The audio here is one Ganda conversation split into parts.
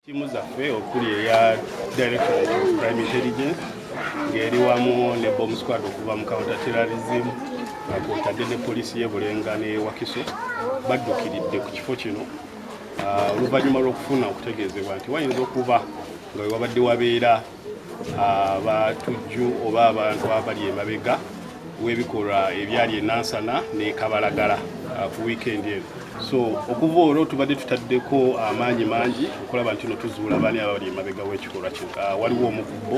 Ttiimu zaffe okuli eya Directorate of Crime Intelligence ng'eri wamu ne Bomb Squad okuva mu Counter Terrorism kwotadde ne poliisi y'e Bulenga ne Wakiso baddukiridde ku kifo kino ah, oluvannyuma lw'okufuna okutegeezebwa nti wayinza okuba nga wewabadde wabeera abatujju oba abantu abali emabega w'ebikolwa ebyali enansana ne kabalagala uh, ku wiikendi eno so okuva olwo tubadde tutaddeko amaanyi mangi okulaba nti no tuzuula baani abali emabega w'ekikolwa kino uh, waliwo omukubbo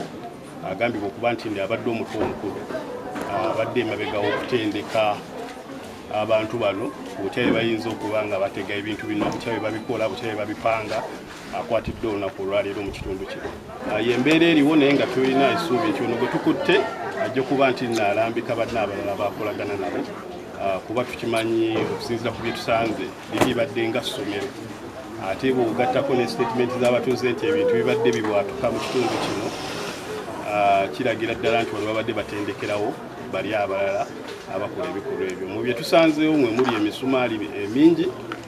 agambibwa okuba nti ndi abadde omutwe omukulu uh, abadde emabega w'okutendeka abantu bano butya bye bayinza okuba nga batega ebintu bino butya bye babikola butya bye babipanga akwatidde olunaku olwaleero mu kitundu kino ah, yembeera eriwo naye nga tulina esuubi nti ono gwe tukutte ajja okuba nti naalambika banna abalala bakolagana nabo ah, kuba tukimanyi okusinzira ku byetusanze bibibadde nga ssomero ate bwogattako ne sitatimenti z'abatuuze nti ebintu bibadde bibwatuka mu kitundu kino ah, kiragira ddala nti wano babadde batendekerawo bali abalala abakola ebikolwa ebyo mu byetusanzeewo mwe muli emisumaali emingi